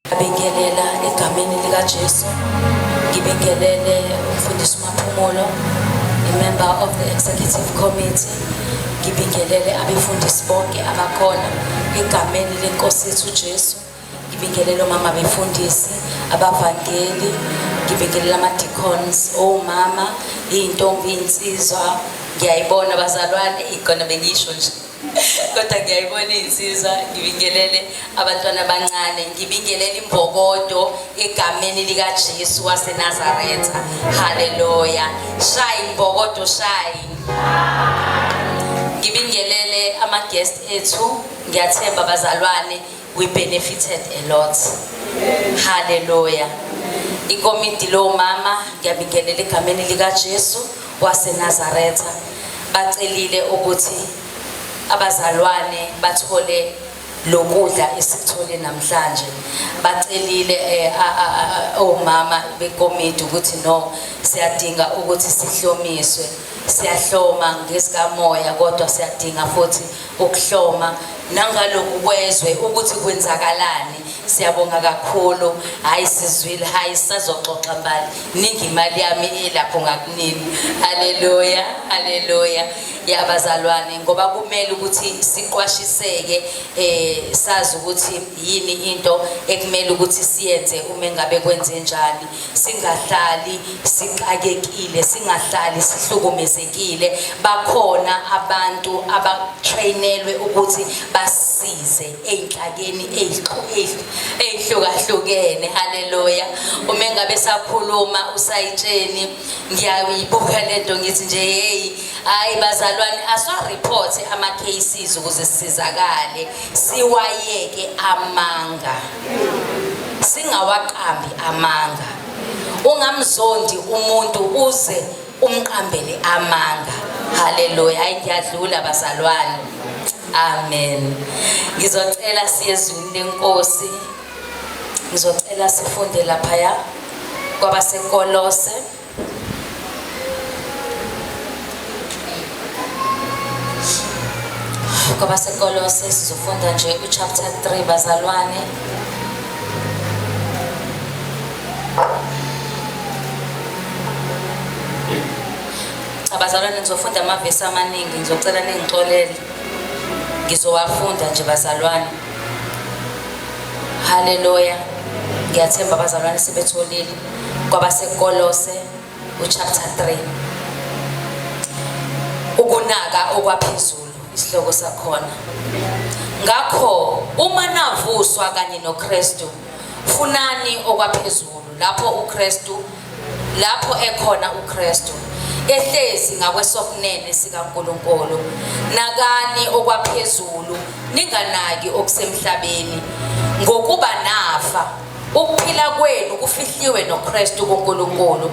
Ngibingelela egameni likaJesu. Ngibingelele umfundisi uMaphumulo, i-member of the executive committee. Ngibingelele abefundisi bonke abakhona egameni lenkosi yethu uJesu. Ngibingelele omama befundisi, abavangeli, ngibingelele ama-deacons, omama, iy'ntombi, iy'nsizwa. Ngiyayibona bazalwane, igona bengisho nje. Kodwa ngiyayibona iy'nsizwa, ngibingelele abantwana abancane, ngibingelele imbokodo egameni likaJesu waseNazaretha. Haleluya. Shayi imbokodo, shayi. Ngibingelele ama-guest ethu, ngiyathemba bazalwane we benefited a lot haleluya ikomiti lomama ngiyabingelela egameni likaJesu waseNazaretha bacelile ukuthi abazalwane bathole lokudla esikuthole namhlanje bacelile eh, omama bekomiti ukuthi no siyadinga ukuthi sihlomiswe siyahloma ngesikamoya kodwa siyadinga futhi ukuhloma nangaloku kwezwe ukuthi kwenzakalani siyabonga kakhulu hayi sizwile hayi sazoxoxa mbali ningi imali yami ilapho ngakunini haleluya haleluya yabazalwane ngoba kumele ukuthi siqwashiseke eh sazi ukuthi yini into ekumele ukuthi siyenze uma engabe kwenze njani singahlali sixakekile singahlali sihlukumezekile bakhona abantu abatrainelwe ukuthi basize ezinhlakeni ezihlukahlukene haleluya uma engabe sakhuluma usayitsheni ngiyayibuka lento ngithi nje hey hayi bazalwane aswa report ama cases ukuze sisizakale siwayeke amanga singawaqambi amanga ungamzondi umuntu uze umqambele amanga haleluya hayi ngiyadlula bazalwane amen ngizocela siyezwini lenkosi ngizocela sifunde laphaya kwabasekolose kwabasekolose sizofunda nje uchapter 3 bazalwane abazalwane ngizofunda amavesi amaningi ngizocela ningixolele ngizowafunda nje bazalwane haleluya ngiyathemba abazalwane sebetholile kwabaseKolose uchapter 3 ukunaka okwaphezulu isihloko sakhona ngakho uma navuswa kanye noKristu funani okwaphezulu lapho uKristu lapho ekhona uKristu ehlezi ngakwesokunene sikaNkuluNkulu nakani okwaphezulu ninganaki okusemhlabeni ngokuba nafa Ukuphila kwenu kufihliwe noKristu kuNkulunkulu.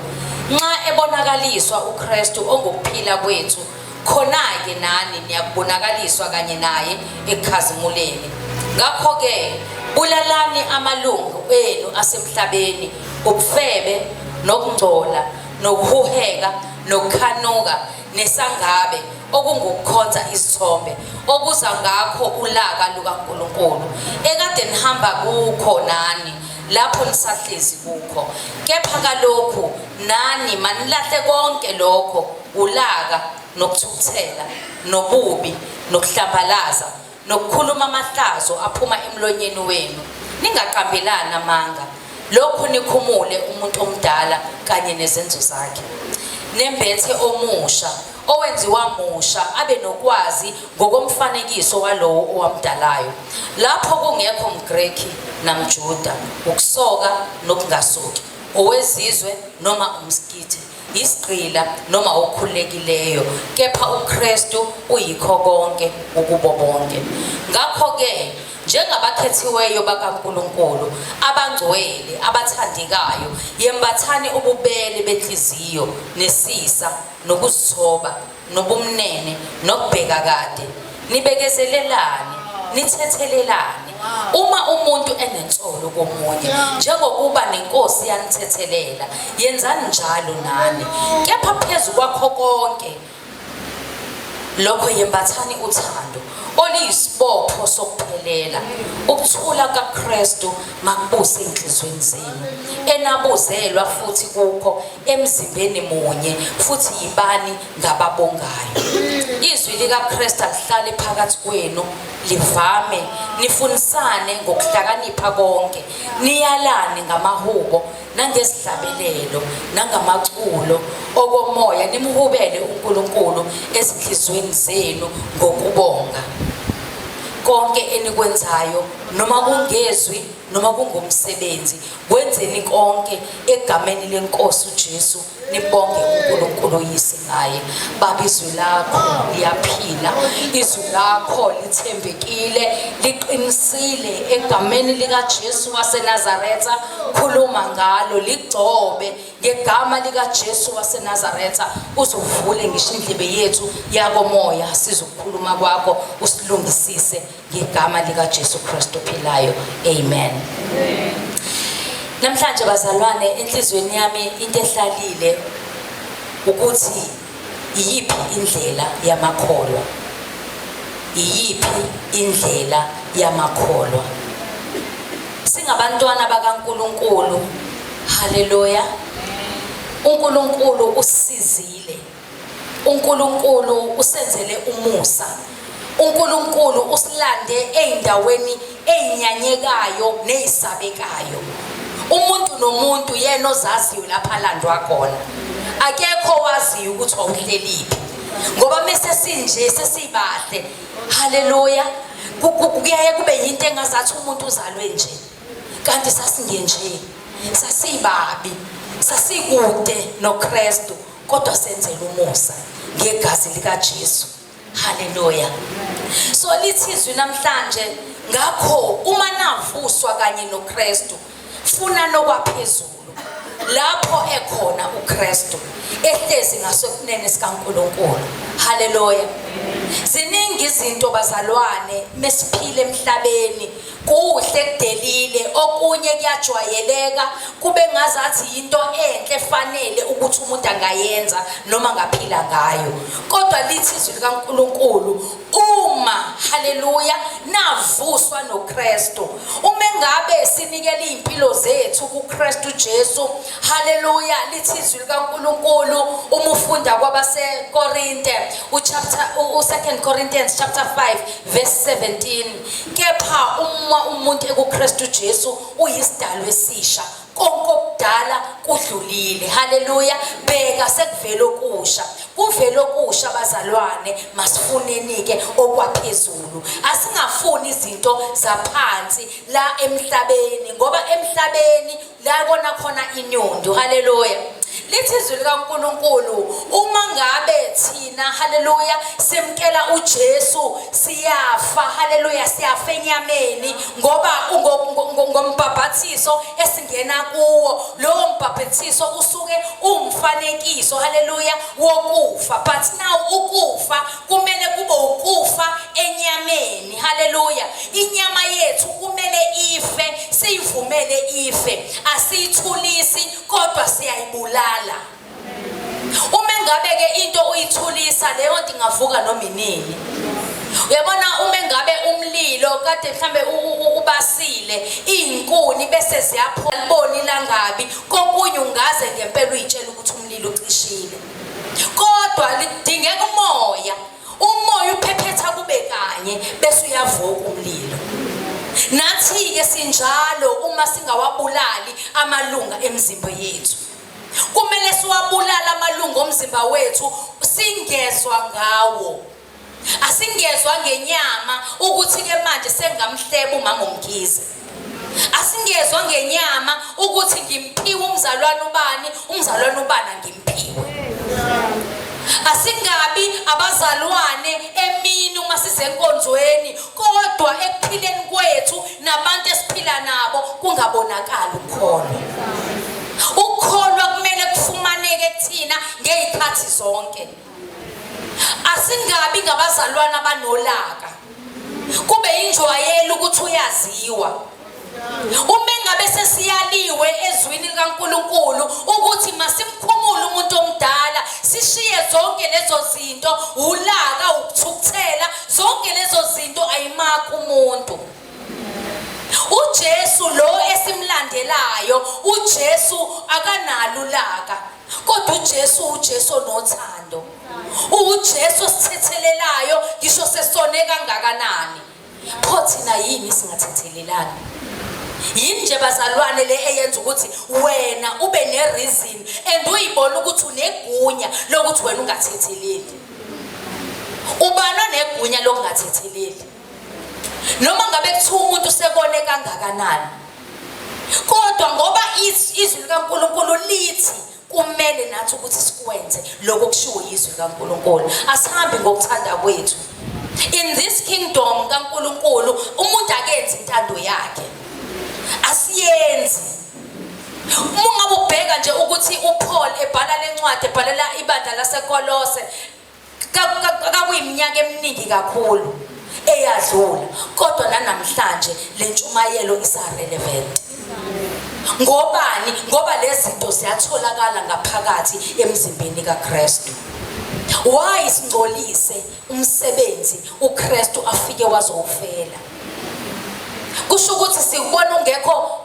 Nxa ebonakaliswa uKristu ongukuphila kwethu, khona-ke nani niyakubonakaliswa kanye naye ekukhazimuleni. Ngakho-ke bulalani amalungu enu asemhlabeni, ubufebe, nokungcola, nokuhuheka, nokukhanuka, nesangabe okungukukhonza izithombe okuza ngakho ulaka lukaNkulunkulu ekade nihamba kukho nani lapho nisahlezi kukho kepha kalokhu nani manilahle konke lokho ulaka nokuthukuthela nobubi nokuhlambalaza nokukhuluma amahlazo aphuma emlonyeni wenu ningaqambelani amanga lokhu nikhumule umuntu omdala kanye nezenzo zakhe nembethe omusha owenziwa musha abe nokwazi ngokomfanekiso walowo owamdalayo lapho kungekho mgreki namjuda ukusoka nokungasoki owezizwe noma umskithe isigqila noma okhululekileyo kepha uKristu uyikho konke ukubo bonke ngakho ke njengabakhethiweyo bakaNkuluNkulu abangcwele abathandekayo yembathani ububele benhliziyo nesisa nokuzithoba nobumnene nokubheka kade nibekezelelane nithethelelane uma umuntu enensolo komunye njengokuba nenkosi yanithethelela yenzani njalo nani kepha phezu kwakho konke lokho yembathani uthando oliyisibopho sokuphelela ukuthula kaKristu makubuse enhlizweni zenu enabuzelwa futhi kukho emzimbeni munye futhi yibani ngababongayo izwi likaKristu alihlale phakathi kwenu livame nifunisane ngokuhlakanipha konke niyalane ngamahubo nangezihlabelelo nangamaculo okomoya nimhubele uNkulunkulu ezinhlizweni zenu ngokubonga konke enikwenzayo noma kungezwi noma kungumsebenzi Kwenzeni konke egameni lenkosi uJesu nibonge uNkulunkulu oyise ngaye baba izwi lakho liyaphila izwi lakho lithembekile liqinisile egameni likaJesu waseNazaretha khuluma ngalo ligcobe ngegama likaJesu waseNazaretha uzovule ngisho indlebe yethu yakomoya sizokhuluma kwakho usilungisise ngegama likaJesu Kristu ophilayo amen namhlanje bazalwane enhliziyweni yami into ehlalile ukuthi iyiphi indlela yamakholwa iyiphi indlela yamakholwa singabantwana bakaNkuluNkulu haleluya uNkulunkulu usizile uNkulunkulu usenzele umusa uNkulunkulu usilande ezindaweni ezinyanyekayo nezisabekayo umuntu nomuntu yena ozaziyo lapha landwa khona akekho waziyo ukuthi wawuhleliphi ngoba mese sinje sesibahle haleluya kuyaye kube yinto engazathi umuntu uzalwe nje kanti sasingenje sasibabi sasikude noKristu kodwa senzela umusa ngegazi likaJesu haleluya so lithi izwi namhlanje ngakho uma navuswa kanye noKristu funa nokwaphezulu lapho ekhona uKristu ehlezi ngasokunene sikaNkuluNkulu haleluya ziningi izinto bazalwane mesiphile emhlabeni Kuhle kudelile okunye kuyajwayeleka kube ngazathi yinto enhle efanele ukuthi umuntu angayenza noma ngaphila ngayo kodwa lithi izwi likaNkuluNkulu uma haleluya navuswa noKristu uma ngabe sinikele izimpilo zethu kuKristu Jesu haleluya lithi izwi likaNkuluNkulu uma ufunda kwabaseKorinte uchapter u2 Corinthians chapter 5 verse 17 Kepha uma umuntu ekuKristu Jesu uyisidalwa esisha, konke okudala kudlulile. Haleluya! Bheka sekuvela okusha. Kuvela okusha bazalwane, masifuneni-ke okwaphezulu. Asingafuni izinto zaphansi la emhlabeni ngoba emhlabeni Lakona khona inyundo. Hallelujah. lithi izwi likaNkuluNkulu uma ngabe thina haleluya simkela uJesu siyafa haleluya siyafa enyameni ngoba ngombhabhathiso esingena kuwo lowo mbhabhathiso usuke umfanekiso haleluya wokufa but now ukufa kumele kube ukufa enyameni haleluya inyama yethu kumele ife siyivumele ife asiyithulisi kodwa siyayibulala uma engabe ke into uyithulisa leyo nto ingavuka noma inini uyabona uma engabe umlilo kade mhlambe ubasile izinkuni bese ziyaphola liboni langabi kokunye ungaze ngempela uyitshela ukuthi umlilo ucishile kodwa lidingeka umoya umoya uphephetha kube kanye bese uyavuka umlilo nathi-ke sinjalo uma singawabulali amalunga emzimba yethu kumele siwabulale amalunga omzimba wethu singezwa ngawo Asingezwa ngenyama ukuthi ke manje sengamhleba umama uMkhize. Asingezwa ngenyama ukuthi ngimphiwe umzalwane ubani, umzalwane ubani angimphiwe. Asingabi abazalwane emini uma sisenkonzweni kodwa ekuphileni kwethu nabantu esiphila nabo kungabonakala ukholo. Ukholwa kumele kufumaneke kuthina ngezikhathi zonke. asingabi ngabazalwane abanolaka kube injwayelo ukuthi uyaziwa uma engabe sesiyaliwe ezwini likaNkuluNkulu ukuthi masimkhumule umuntu omdala sishiye zonke lezo zinto ulaka ukuthukuthela zonke lezo zinto ayimakho umuntu uJesu lo esimlandelayo uJesu akanalo ulaka kodwa uJesu uJesu onothando uJesu osithethelelayo ngisho sesone kangakanani pho thina yini singathethelelani yini nje bazalwane le eyenza ukuthi wena ube nereason and uyibona ukuthi unegunya lokuthi wena ungathetheleli ubani onegunya lokungathetheleli noma ngabe kuthiwa umuntu sekone kangakanani kodwa ngoba izwi likaNkulunkulu lithi kumele nathi ukuthi sikwenze lokho kushiwo yizwi likaNkulunkulu asihambi ngokuthanda kwethu in this kingdom kaNkulunkulu umuntu akenzi intando yakhe asiyenzi uma ngabe ubheka nje ukuthi uPaul ebhala lencwadi ebhalela ibandla laseKolose kakuyiminyaka eminingi kakhulu eyadlula kodwa nanamhlanje le ntshumayelo isarelevant ngobani ngoba lezi zinto ziyatholakala ngaphakathi emzimbeni kaKristu why singcolise umsebenzi uKristu afike wazowufela kusho ukuthi sikubona ungekho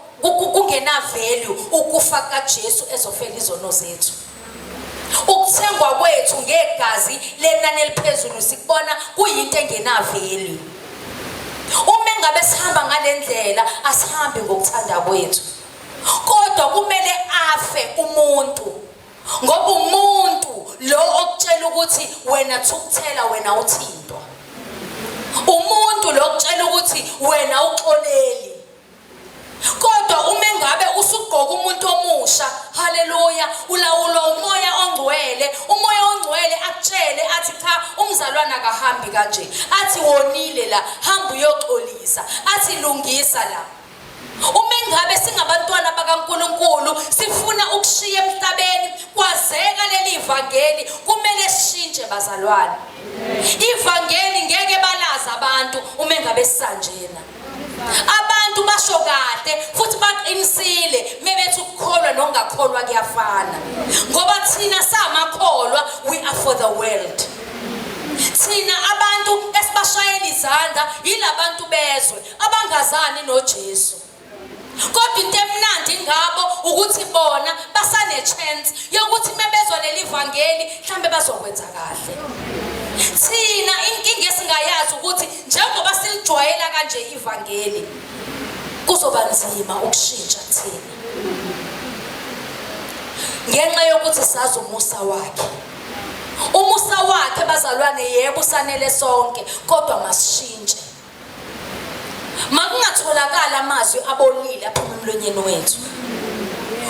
kungena value ukufa kaJesu ezofela izono zethu Ukuthengwa kwethu ngegazi lenani eliphezulu sikubona kuyinto engenaveli. Uma engabe sihamba ngalendlela asihambi ngokuthanda kwethu. Kodwa kumele afe umuntu ngoba umuntu lo okutshela ukuthi wena thukuthela wena uthintwa. Umuntu lo okutshela ukuthi wena uxoleli Kodwa uma engabe usugqoka umuntu omusha, haleluya, ulawulwa umoya ongcwele. Umoya ongcwele akutshele athi cha umzalwane akahambi kanje. Athi wonile la, hamba uyoxolisa. Athi lungisa la. Uma ingabe singabantwana bakaNkuluNkulu sifuna ukushiya emhlabeni kwazeka leli vangeli kumele sishintshe bazalwane. Ivangeli ngeke balazi abantu uma ingabe sisanjena. abantu basho kade futhi baqinisile mebethi ukukholwa nokungakholwa kuyafana ngoba thina samakholwa we are for the world thina abantu esibashayela izandla yilabantu bezwe abangazani noJesu kodwa into emnandi ngabo ukuthi bona basane-chance yokuthi uma bezwa leli vangeli mhlawumbe bazokwenza kahle thina inkinga esingayazi ukuthi njengoba silijwayela kanje ivangeli kuzoba nzima ukushintsha thina ngenxa yokuthi sazi umusa wakhe umusa wakhe bazalwane yebo usanele sonke kodwa masishintshe Makungatholakali amazwi abolile aphuma emlonyeni wethu.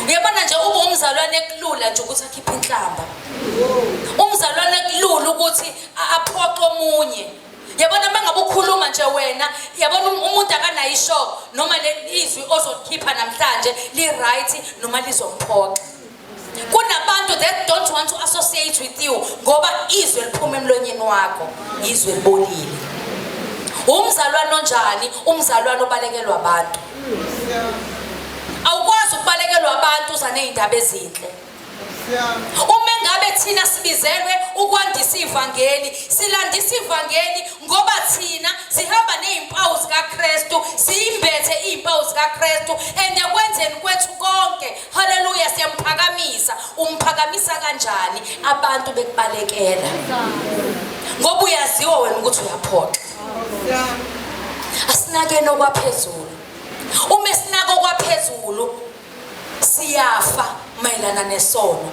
Uyabona nje ube umzalwane kulula nje ukuthi akhiphe inhlamba. Umzalwane kulula ukuthi aphoxe omunye. Yabona mangabe ukhuluma nje wena, yabona um-, umuntu akanayo isho noma lelizwi ozokhipha namhlanje li right noma lizomphoxa. kunabantu that don't want to associate with you ngoba izwe liphuma emlonyeni wakho izwe libolile umzalwane onjani umzalwane obalekelwa abantu awukwazi ukubalekelwa abantu uza ney'ndaba ezinhle uma engabe thina sibizelwe ukwandisa ivangeli silandisa ivangeli ngoba thina sihamba ney'mpawu zikakristu siyimbethe iy'mpawu zikakristu and ekwenzeni kwethu konke Haleluya siyamphakamisa. Umphakamisa kanjani abantu bekubalekela? Ngoba uyaziwa wena ukuthi uyaphoxa. Asinakeni okwaphezulu. Uma sinako okwaphezulu siyafa mayelana nesono.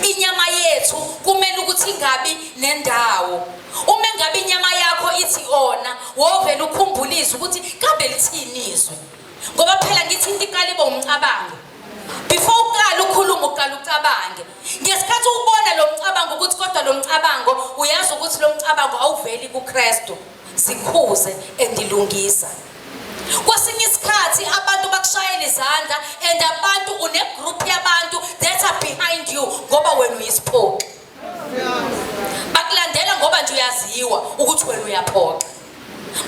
Inyama yethu kumele ukuthi ingabi nendawo. Uma engabe inyama yakho ithi ona, wovela ukhumbulisa ukuthi kabe lithini izwi. ngoba phela ngithi into iqala ibe umcabango before uqala ukhuluma uqala ucabange ngesikhathi ubona lo mcabango ukuthi kodwa lo mcabango uyazi ukuthi lo mcabango awuveli kukristu zikhuze endilungisa kwesinye isikhathi abantu bakushayela izandla and abantu unegroup yabantu that are behind you ngoba wena uyisiphoxi bakulandela ngoba nje uyaziwa ukuthi wena uyaphoxa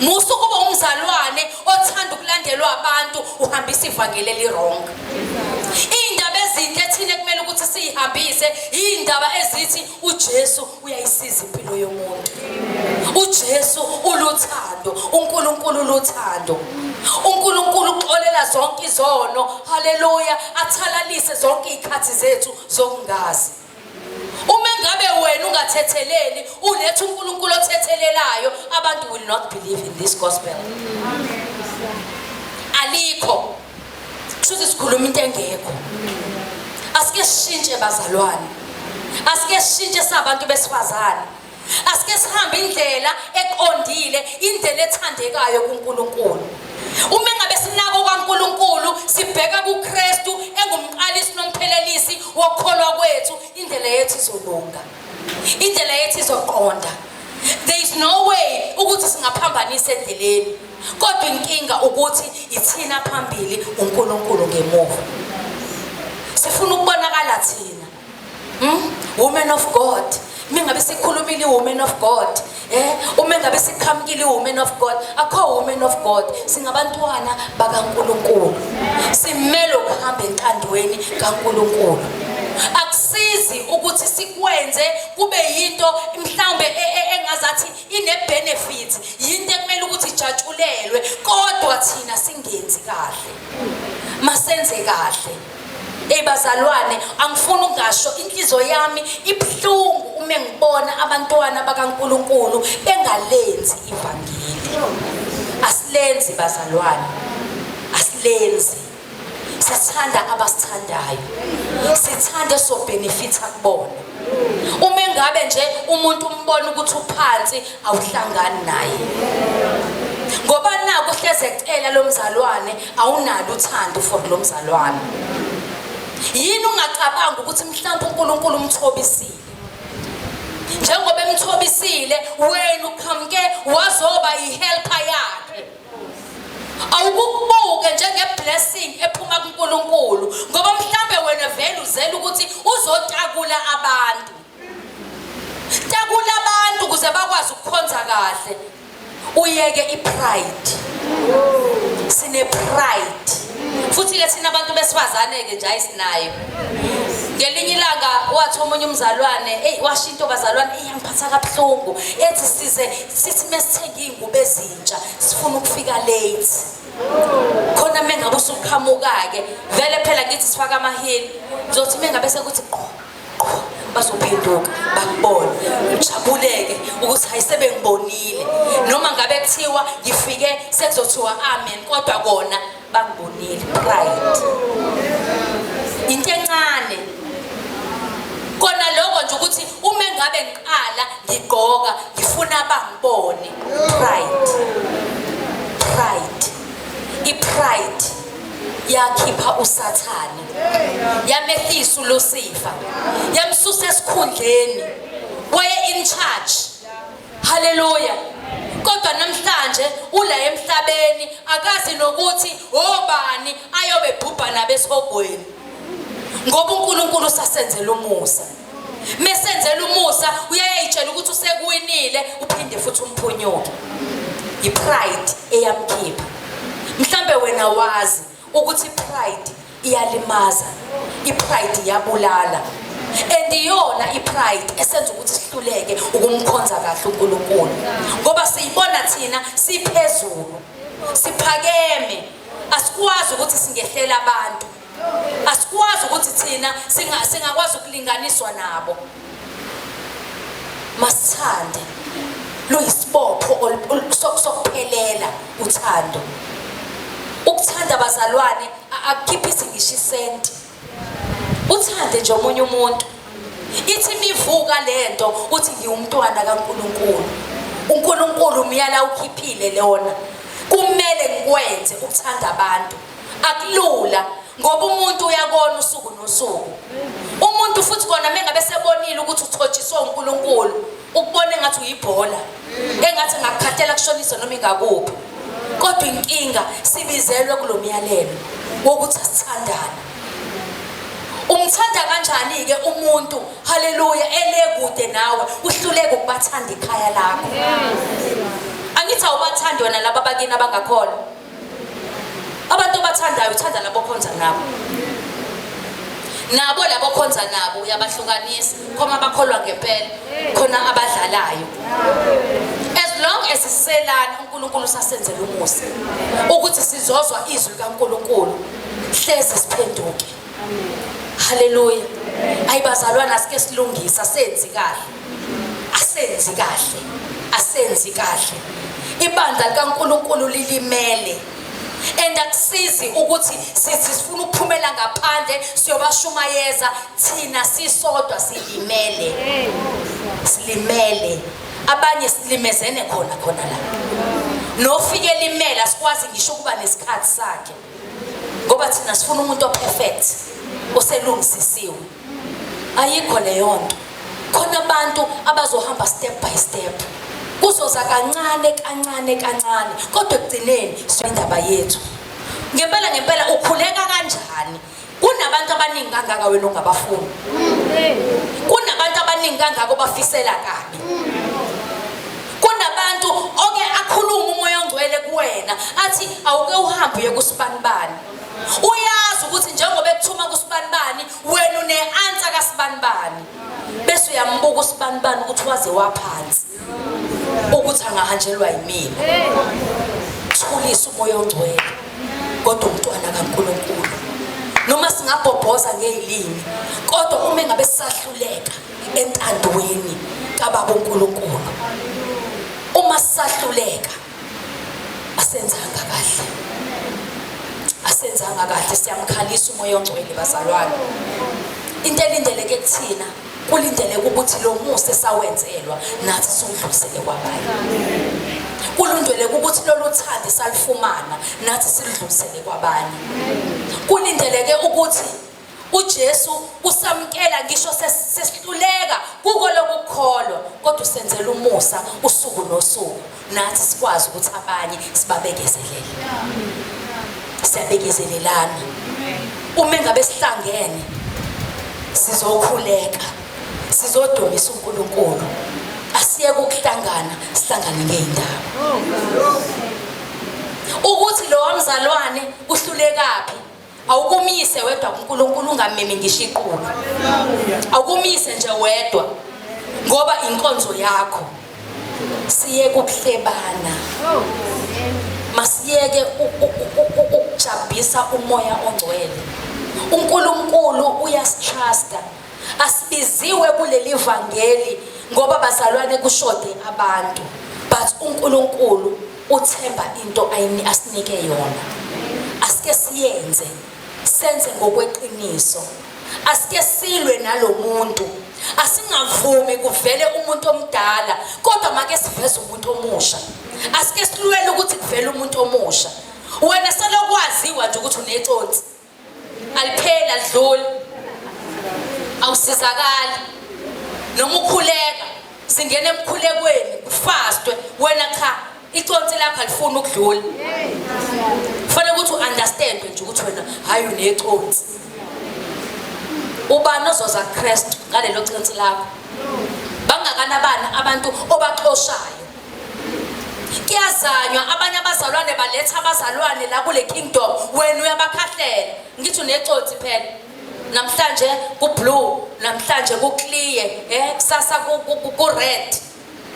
musa ukuba umzalwane othanda ukulandelwa abantu uhambisa ivangeli elirong iy'ndaba ezinhle thina kumele ukuthi siyihambise iy'ndaba ezithi ujesu uyayisiza impilo yomuntu ujesu uluthando unkulunkulu uluthando unkulunkulu uxolela zonke izono haleluya athalalise zonke iy'khathi zethu zokungazi Uma ngabe wena ungathetheleli, uletha uNkulunkulu othethelelayo, abantu will not believe in this gospel. Alikho. Kushuthi sikhuluma into engekho. Asike sishintshe bazalwane. Asike sishintshe sabantu besifazane. Asike sihambe indlela eqondile, indlela ethandekayo kuNkulunkulu. Uma ngabe sinako kwaNkulunkulu, sibheka kuKristu engumqalisi nomphelelisi wokukholwa kwethu, indlela yethu izolunga. Indlela yethu izoqonda. There is no way ukuthi singaphambanisa endleleni. Kodwa inkinga ukuthi ithina phambili uNkulunkulu ngemuva. Sifuna ukubonakala thina Hmm? Woman of God. Uma ngabe sikhulumile woman of God. Eh, uma ngabe siqhamukile woman of God, akho woman of God. Singabantwana bakaNkuluNkulu. Simele ukuhamba entandweni kaNkuluNkulu. Akusizi ukuthi sikwenze kube yinto mhlawumbe e, e, engazathi ine benefit, yinto ekumele ukuthi ijatshulelwe, kodwa thina singenzi kahle. Masenze kahle. Hey bazalwane, angifuni ungasho inhliziyo yami ibuhlungu uma ngibona abantwana bakaNkuluNkulu bengalenzi ivangeli. Asilenzi bazalwane. Asilenzi. Sithanda abasithandayo. Sithanda sobhenefitha kubona. Uma engabe nje umuntu umbona ukuthi uphansi awuhlangani naye. Ngoba naku hleze ecela lomzalwane awunalo uthando for lo mzalwane yini ungacabanga ukuthi mhlawumbe uNkulunkulu umthobisile njengoba emthobisile wena uqhamuke wazoba yihelper yakhe awukubuke njengeblessing ephuma kuNkulunkulu ngoba mhlambe wena vele uzela ukuthi uzotakula abantu Takula abantu ukuze bakwazi ukukhonza kahle. Uyeke ipride. Sine pride. Futhi ke sina abantu besifazane ke nje ayisinayo. Ngelinye ilanga wathi omunye umzalwane, hey washo into bazalwane iyangiphatha kabuhlungu. Ethi size sithi mesithenga izingubo ezintsha, sifuna ukufika late. Khona mengabe usuqhamuka ke, vele phela ngithi sifaka amahili. Ngizothi mengabe sekuthi qho bazophenduka bakubone ujabuleke ukuthi hayi sebengibonile noma ngabe kuthiwa ngifike sekuzothiwa amen kodwa kona bangibonile pride into encane kona lokho nje ukuthi uma engabe ngiqala ngigqoka ngifuna bangibone pride pride i-pride yakhipha usathane yamehlisa uLucifer yamsusa esikhundleni waye in charge haleluya kodwa namhlanje ula emhlabeni akazi nokuthi obani ayobe bhubha nabesihogweni ngoba uNkulunkulu usasenzela umusa mesenzela umusa uyayayitshela ukuthi usekuwinile uphinde futhi umphunyuke yipride eyamkhipha mhlambe wena wazi ukuthi pride iyalimaza ipride iyabulala and iyona ipride esenza ukuthi sihluleke ukumkhonza kahle uNkulunkulu ngoba siyibona thina siphezulu siphakeme asikwazi ukuthi singehlela abantu asikwazi ukuthi thina singakwazi ukulinganiswa nabo masithande luyisibopho sokuphelela uthando ukuthanda abazalwane akukhiphi izingisho isenti uthande nje omunye umuntu ithi imivuka lento uthi ngiwumntwana kaNkuluNkulu uNkuluNkulu umyala ukhiphile lona kumele ngikwenze ukuthanda abantu akulula ngoba umuntu uyakona usuku nosuku umuntu futhi kona mengabe sebonile ukuthi uthotshiswe uNkulunkulu ukubona engathi uyibhola engathi ngakukhathela kushonisa noma ingakuphi kodwa inkinga sibizelwe kulomyalelo wokuthi asithandane umthanda kanjani ke umuntu haleluya elekude nawe uhluleke ukubathanda ikhaya lakho angithi awubathandi wena laba bakini abangakhona abantu obathandayo uthanda labo khonza nabo nabo labo khonza nabo uyabahlukanisa khoma bakholwa ngempela khona abadlalayo as long as siselana uNkulunkulu sasenzela umusa ukuthi sizozwa izwi kaNkulunkulu hleze siphenduke haleluya ayibazalwana sike silungisa senzi kahle asenzi kahle asenzi kahle ibandla likaNkuluNkulu lilimele and akusizi ukuthi sithi sifuna ukuphumela ngaphandle siyobashumayeza thina sisodwa silimele silimele abanye silimezene khona khona la nofike limele asikwazi ngisho ukuba nesikhathi sakhe ngoba thina sifuna umuntu operfect oselungisisiwe ayikho leyonto khona abantu abazohamba step by step kuzoza kancane kancane kancane kodwa ekugcineni indaba yethu ngempela ngempela ukhuleka kanjani kunabantu abaningi kangaka wena ongabafuni kunabantu abaningi kangaka obafisela kabi kunabantu oke akhulume umoya ongcwele kuwena athi awuke uhambe uye kusibanibani uyazi ukuthi njengoba ekuthuma kusibanibani wena une-ansa kasibanibani bese uyambuka usibanibani ukuthi waze waphansi ukuthi angahanjelwa yimina thulisa umoya ongcwele kodwa umntwana kankulunkulu noma singabhobhoza ngey'limi kodwa uma engabe sisahluleka entandweni kababa unkulunkulu uma sisahluleka asenzanga kahle asenzanga kahle siyamkhalisa umoya ongcwele bazalwane into elindeleke kuthina kulindeleke ukuthi lo musa esawenzelwa nathi siwudlulisele kwabanye kulundeleke ukuthi lolu thandi salufumana nathi siludlulisele kwabanye kulindeleke ukuthi UJesu usamkela ngisho sesihluleka kuko lokukholwa kodwa usenzela umusa usuku nosuku nathi sikwazi ukuthi abanye sibabekezelele siyabekezelelana uma engabe sihlangene sizokhuleka sizodumisa uNkulunkulu asiye ukuhlangana sihlangane ngeendawo ukuthi lo wamzalwane uhlulekaphi awukumise wedwa kuNkulunkulu ungamimi ngisho iqulu awukumise nje wedwa ngoba inkonzo yakho siye kuhlebana masiyeke ukujabhisa umoya ongcwele uNkulunkulu uyasitrusta asibiziwe kuleli vangeli ngoba bazalwane kushode abantu but uNkulunkulu Uthemba into ayini asinike yona. Asike siyenze senze ngokweqiniso. Asike silwe nalomuntu. Asingavumi kuvele umuntu omdala kodwa make siveze umuntu omusha. Asike silwele ukuthi kuvele umuntu omusha. Wena selokwaziwa nje ukuthi uneconsi. alipheli alidluli awusizakali noma ukhuleka singena emkhulekweni kufastwe wena cha iconsi lakho alifuni ukudlula kufanele ukuthi u-understand nje ukuthi wena hhayi uneconsi ubani ozoza kuKristu ngalelo cinsi lakho bangakana bani abantu obaxoshayo kuyazanywa abanye abazalwane baletha abazalwane la kule kingdom wena uyabakhahlela ngitho nexothi phela namhlanje kublue namhlanje kuclear eh kusasa ku red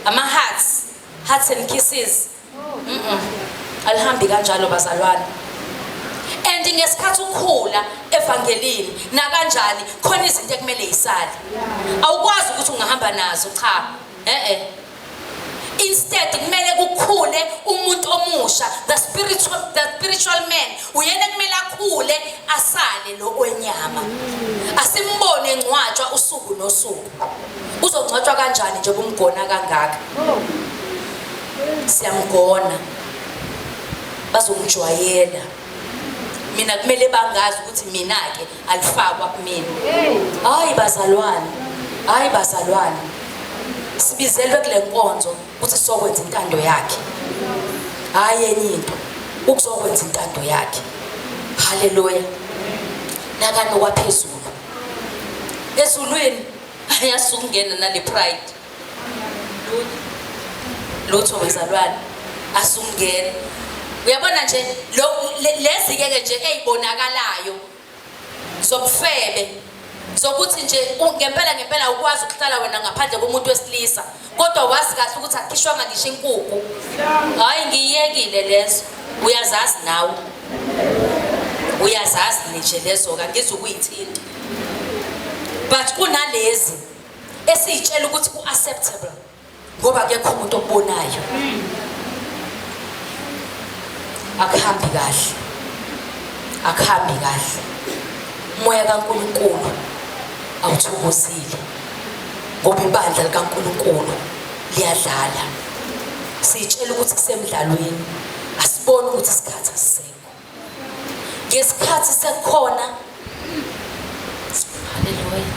ama hearts hearts and kisses mm -mm. alihambi kanjalo bazalwane and ngesikhathi ukhula evangelini nakanjani khona izinto ekumele yisale awukwazi ukuthi ungahamba nazo cha eh eh instead kumele kukhule umuntu omusha the spiritual the spiritual man uyena kumele akhule asale lo wenyama asimbone ngcwatshwa usuku nosuku uzongcwatshwa kanjani nje kumgona kangaka siyamgona bazomjwayela mina kumele bangazi ukuthi mina ke alifakwa kumina hayi bazalwane hayi bazalwane sibizelwe kule nkonzo ukuthi sokwenza intando yakhe hayi enye into ukuzokwenza intando yakhe haleluya nakani okwaphezulu ezulwini ayasukungena nale pride lutho wezalwane asungena uyabona nje lezi-ke ke nje ey'bonakalayo zobufebe zokuthi nje ngempela ngempela ukwazi ukuhlala wena ngaphandle komuntu wesilisa kodwa wazi kahle ukuthi akhishwanga ngisho inkukhu hhayi ngiyiyekile lezo uyazazi nawe uyazazi nje lezo-ka ngizukuyithinta but kunalezi esiyitshela ukuthi ku-acceptable ngoba kekho umuntu okubonayo akuhambi kahle akuhambi kahle umoya kaNkuluNkulu awuthokozile ngoba ibandla likaNkuluNkulu liyadlala siyitshela ukuthi kusemdlalweni asiboni ukuthi isikhathi asisekho ngesikhathi sekukhona haleluya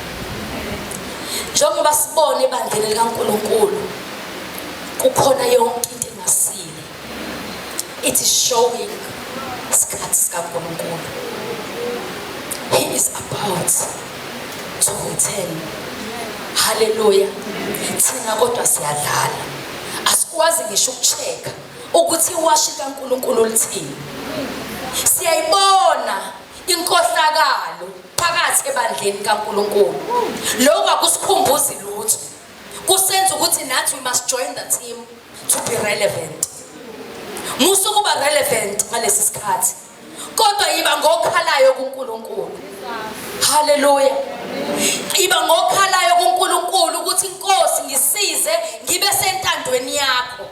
njengoba sibone ebandleni likaNkulunkulu kukhona yonke into engasile it is showing isikhathi sikaNkulunkulu he is about to return haleluya thina kodwa siyadlala asikwazi ngisho ukucheka ukuthi iwashi kaNkulunkulu lithini. Siyayibona inkohlakalo phakathi ebandleni kaNkulunkulu. Lokho akusikhumbuzi lutho. Kusenza ukuthi nathi we must join the team to be relevant. Musa ukuba relevant ngalesi sikhathi. Kodwa yiba ngokhalayo kuNkulunkulu. Hallelujah. Iba ngokhalayo kuNkulunkulu ukuthi inkosi ngisize ngibe sentandweni yakho.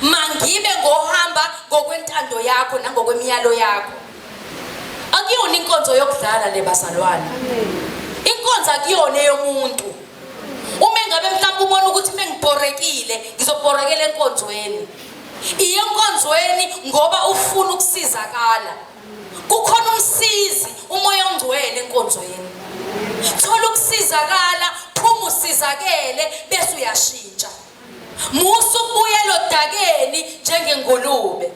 mangibe ngohamba ngokwentando yakho nangokwemiyalo yakho akuyona inkonzo yokudlala le bazalwane inkonzo akuyona eyomuntu uma engabe mhlawumbe ubona ukuthi mengibhorekile ngizobhorekela enkonzweni iye enkonzweni ngoba ufuna ukusizakala kukhona umsizi umoya ongcwele enkonzweni thola ukusizakala phuma usizakele bese uyashiya Musa ukubuyela odakeni njengengulube.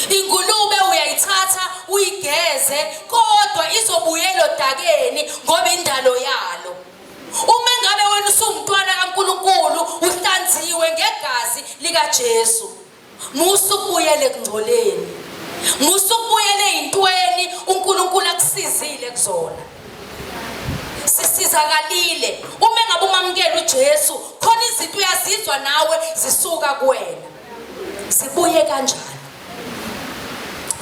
Ingulube uyayithatha uyigeze kodwa izobuyela odakeni ngoba indalo yalo. Uma ngabe wena usumntwana kaNkuluNkulu uhlanziwe ngegazi likaJesu. Musa ukubuyela ekungcoleni. Musa ukubuyela ezintweni uNkulunkulu akusizile kuzona. Sisizakalile uma ngabe umamukela uJesu, khona izinto uyazizwa nawe zisuka kuwena. Zibuye kanjani?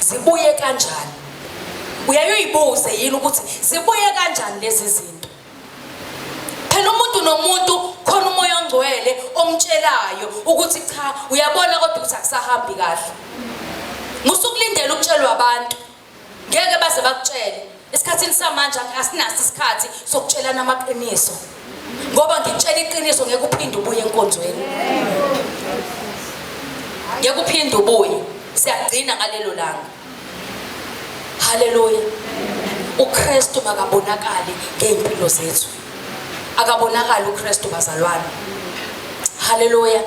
Zibuye kanjani? Uyayoyibuze yini ukuthi zibuye kanjani lezi zinto? phela umuntu nomuntu khona umoya ongcwele omtshelayo ukuthi cha uyabona kodwa ukuthi akusahambi kahle musukulindela ukutshelwa abantu ngeke baze bakutshele esikhathini samanje asinaso isikhathi sokutshelana amaqiniso ngoba ngikutshela iqiniso ngeke uphinde ubuye enkonzweni ngeke uphinde ubuye siyagcina ngalelo langa Haleluya. UKristu makabonakali ngey'mpilo zethu. Akabonakali uKristu bazalwane. Haleluya.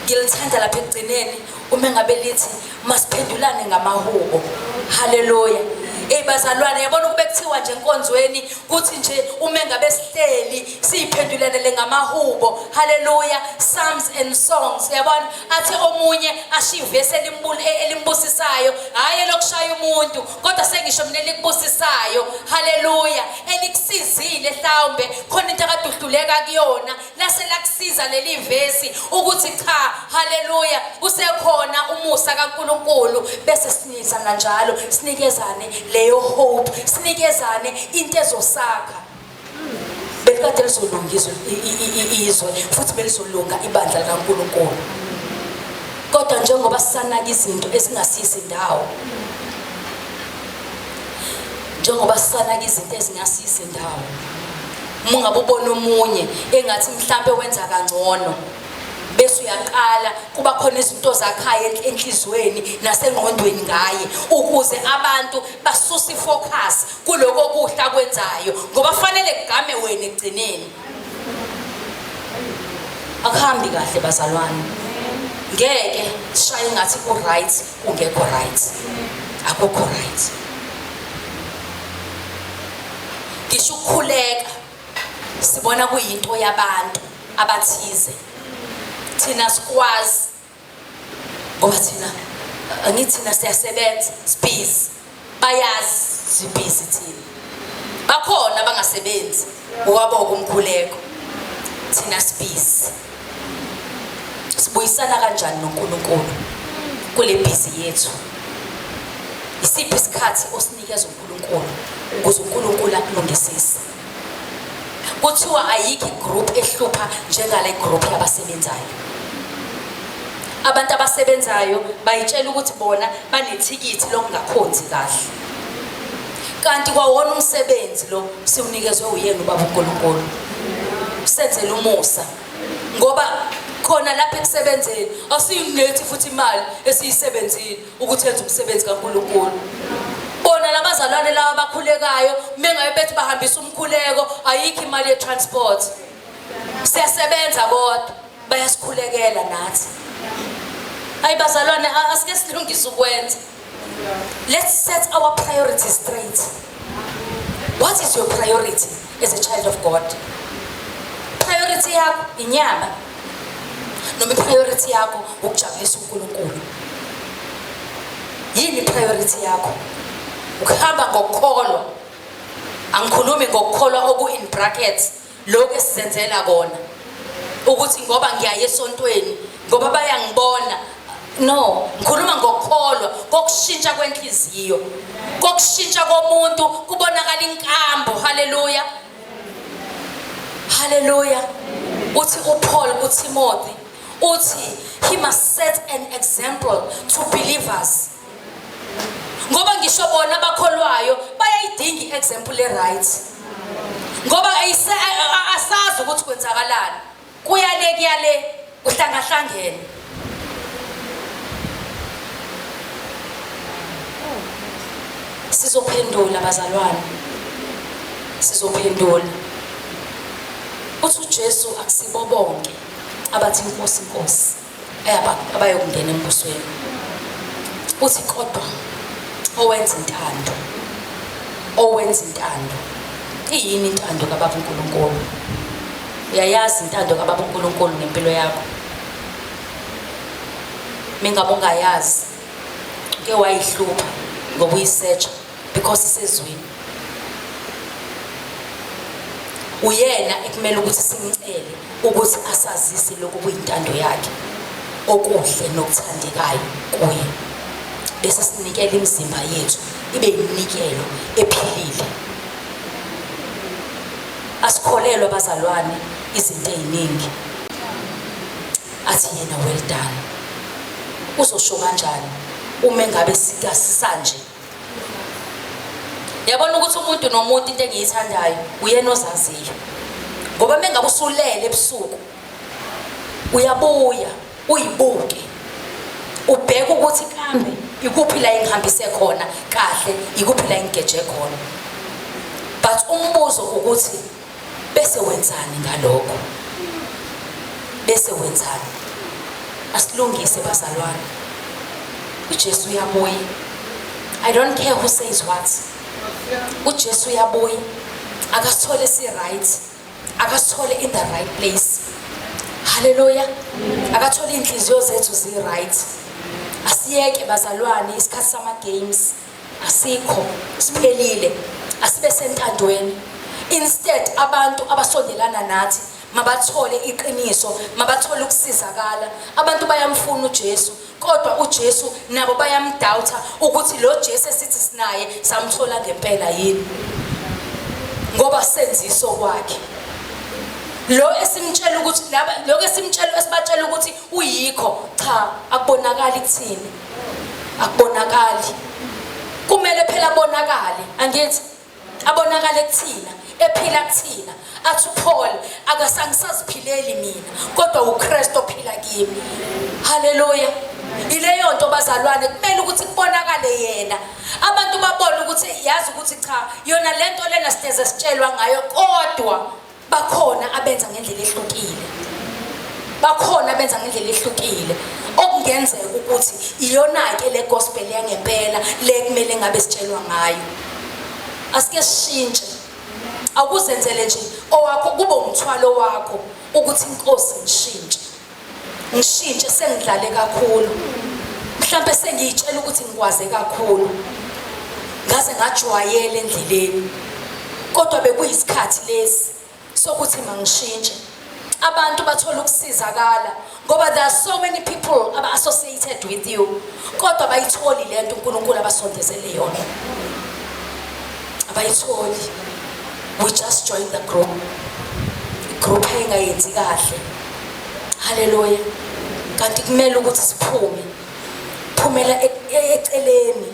Ngilithanda lapha ekugcineni uma ngabe lithi masiphendulane ngamahubo. Haleluya. Ey bazalwane yabona ukube kuthiwa nje enkonzweni kuthi nje uma ngabe sihleli siyiphendulanele ngamahubo. Haleluya. Psalms and songs yabona athi omunye ashiye ivesi e-, elimbusisayo hhayi elokushaya umuntu kodwa sengisho mina elikubusisayo haleluya elikusizile hlawumbe khona into akade uhluleka kuyona lase lakusiza leli vesi ukuthi cha haleluya usekhona umusa kankulunkulu bese siniza kanjalo sinikezane leyo hope sinikezane into ezosakha belikade lizolungiswa izwe futhi belizolunga ibandla likaNkulunkulu kodwa njengoba sisanaka izinto ezingasisi ndawo njengoba sisanaka izinto ezingasisi ndawo uma ungabe ubona omunye engathi mhlawumbe wenza kangcono bese uyaqala kuba khona izinto zakhayo enhlizweni nasengqondweni ngaye ukuze abantu basuse ifocus kuloko kuhle akwenzayo ngoba fanele kugame wena egcineni akuhambi kahle bazalwane ngeke sishaye ngathi ku-right kungekho right akukho right ngisho ukukhuleka sibona kuyinto yabantu abathize thina sikwazi ngoba thina angithi thina siyasebenza sibhizi bayazi sibhizi thina bakhona abangasebenzi ngokwaboko umkhuleko thina sibhizi sibuyisana kanjani noNkulunkulu kule bhizi yethu isiphi isikhathi osinikeza uNkulunkulu ukuze uNkulunkulu akulungisise Kuthiwa ayikho igroup ehlupha njengale group yabasebenzayo. Abantu abasebenzayo bayitshela ukuthi bona banethikithi lokungakhonzi kahle. Kanti kwawona umsebenzi lo siwunikezwe uyena ubaba uNkulunkulu. Senzele umusa ngoba khona lapha ekusebenzeni asiyinethi futhi imali esiyisebenzile ukuthi enze umsebenzi kaNkulunkulu bona labazalwane lawa abakhulekayo mengabe bethi bahambisa umkhuleko ayikho imali ye-transport siyasebenza kodwa bayasikhulekela nathi hayi bazalwane asike silungise ukwenza let's set our priorities straight what is your priority as a child of God priority yakho inyama noma priority yakho ukujabulisa uNkulunkulu yini priority yakho ukuhamba ngokukholwa angikhulumi ngokukholwa oku in brackets lokho esizenzela kona ukuthi ngoba ngiyaye esontweni ngoba bayangibona no ngikhuluma ngokukholwa kokushintsha kwenhliziyo kokushintsha komuntu kubonakala inkambo haleluya haleluya uthi uPaul kuTimothy uthi he must set an example to believers ngoba ngisho bona abakholwayo bayayidinga i-example e-right ngoba asazi ukuthi kwenzakalani Kuya le kuya le kuhlangahlangene. Sizophendula bazalwane. Sizophendula. Uthi uJesu akusibo bonke abathi inkosi inkosi. abayokungena embusweni uthi kodwa owenza intando owenza intando iyini intando kababa uNkulunkulu uyayazi intando kababa uNkulunkulu ngempilo yakho mingabe ungayazi ke wayihlupha ngokuyisearch because isezwini uyena ekumele ukuthi simcele ukuthi asazise lokhu kuyintando yakhe okuhle nokuthandekayo kuye bese sinikela imizimba yethu ibe yiminikelo ephilile asikholelwa bazalwane izinto eziningi athi yena well done uzosho kanjani uma engabe sikasanje yabona ukuthi umuntu nomuntu into engiyithandayo uyena ozaziyo ngoba mengabe usulele ebusuku uyabuya uyibuke ubheke ukuthi kambe ikuphi la engihambise khona kahle ikuphi la engigeje khona but umbuzo ukuthi bese wenzani ngalokho bese wenzani asilungise bazalwane uJesu uyabuya i don't care who says what uJesu uyabuya akasithole si right akasithole in the right place haleluya akathole inhliziyo zethu zi right asiyeke bazalwane isikhathi sama games asikho siphelile asibe sentandweni instead abantu abasondelana nathi mabathole iqiniso mabathole ukusizakala abantu bayamfuna uJesu kodwa uJesu nabo bayamdoubt ukuthi lo Jesu esithi sinaye samthola ngempela yini ngoba senziso kwakhe lo esimtshela ukuthi laba lokho esimtshela esibatshela ukuthi Kuyikho cha akubonakali kuthini. Akubonakali. Kumele phela abonakale, angithi abonakale kuthina, ephila kuthina. Athi uPaul akasangisaziphileli mina, kodwa uKristu ophila kimi. Haleluya. Ileyo nto bazalwane kumele ukuthi kubonakale yena. Abantu babone ukuthi yazi ukuthi cha yona lento lena sideze sitshelwa ngayo kodwa bakhona abenza ngendlela ehlukile bakhona abenza ngendlela ehlukile okungenzeka ukuthi iyona-ke le gospel yangempela le kumele ngabe sitshelwa ngayo asike sishintshe awukuzenzele nje owakho kube umthwalo wakho ukuthi inkosi ngishintshe ngishintshe sengidlale kakhulu mhlawumbe sengiyitshela ukuthi ngikwaze kakhulu ngaze ngajwayela endleleni kodwa bekuyisikhathi lesi sokuthi mangishintshe abantu bathola ukusizakala ngoba there are so many people aba associated with you kodwa bayitholi lento uNkulunkulu abasondezele yona abayitholi we just join the group group engayenzi kahle Haleluya. Kanti kumele ukuthi siphume. Phumela e, e, eceleni.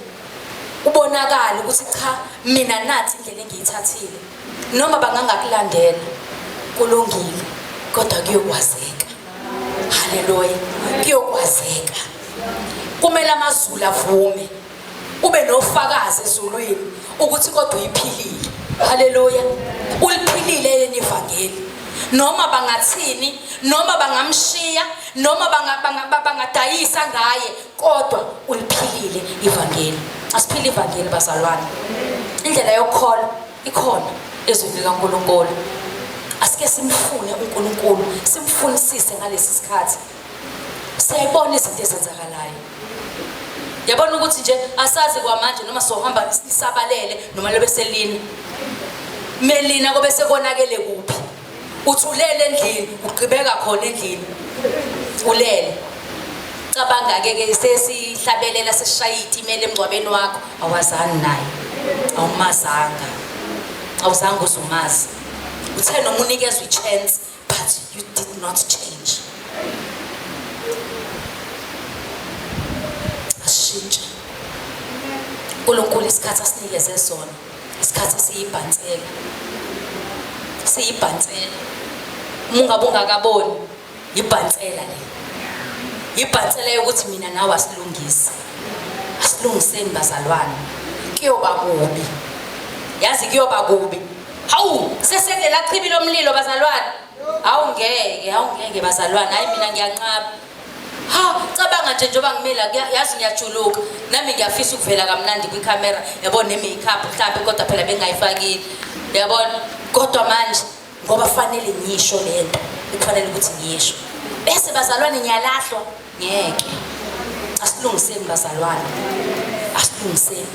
Ubonakala ukuthi cha mina nathi indlela engiyithathile. Noma bangangakulandela kulungile kodwa kuyokwazeka. Haleluya. Kuyokwazeka. Kumele amazulu avume. ube nofakazi ezulwini ukuthi kodwa uyiphilile haleluya uliphilile yini ivangeli noma bangathini noma bangamshiya noma bangadayisa ngaye kodwa uliphilile ivangeli asiphile ivangeli bazalwane indlela yokukholwa ikhona ezwini likankulunkulu asike simfune unkulunkulu simfunisise ngalesi sikhathi siyayibona izinto ezenzakalayo yabona ukuthi nje asazi kwamanje noma sohamba isabalele noma lobe selina melina kobe sekonakele kuphi uthulele endlini ugqibeka khona endlini ulele cabanga-ke ke sesihlabelela sesishaye itimela emngcwabeni wakho awazani naye awumazanga awuzange uzumazi uthe noma unikezwa i-chance But you did not change. Ashintshe. uNkulunkulu isikhathi asinikeze sona isikhathi siyibhansela siyibhansela uma ungabe ungakaboni yibhansela le yibhansela yokuthi mina nawe asilungise asilungiseni bazalwane kuyoba kubi yazi kuyoba kubi Hawu sesede lachibi lomlilo bazalwane. Hawu ngeke, hawu ngeke bazalwane. Hayi mina ngiyanqaba. Ha, cabanga nje njengoba ngimela yazi ngiyajuluka. Nami ngiyafisa ukuvela kamnandi kwi camera. Yabona ne makeup mhlambe kodwa phela bengayifakile. Yabona? Kodwa manje ngoba fanele ngisho lento. Kufanele ukuthi ngiyisho. Bese bazalwane ngiyalahlwa. Ngeke. Asilungiseni bazalwane. Asilungiseni.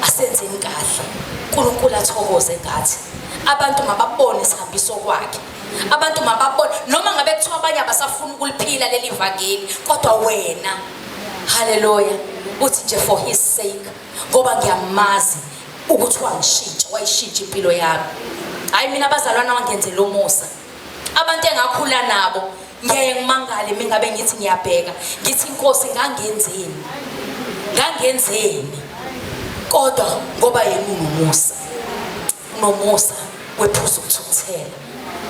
Asenzeni kahle. uNkulunkulu athokoze ngathi. Abantu mababone isihambiso kwakhe. Abantu mababone noma ngabe kuthiwa abanye abasafuna ukuliphila leli vangeli kodwa wena haleluya uthi nje for his sake ngoba ngiyamazi ukuthi wangishintsha wayishintsha impilo yami hayi mina abazalwana wangenzela umusa abantu engakhula nabo ngiyaye ngimangale mingabe ngithi ngiyabheka ngithi inkosi ngangenzeni ngangenzeni kodwa ngoba yena unomusa unomusa wephuza ukuthukuthela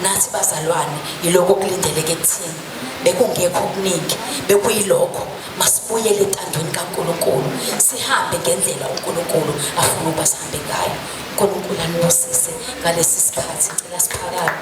nathi bazalwane yiloko okulindeleke kuthina bekungekho okuningi bekuyilokho masibuyele entandweni kaNkuluNkulu sihambe ngendlela uNkuluNkulu afuna ukuba sihambe ngayo uNkulunkulu anibusise ngalesi sikhathi ngicela siphakame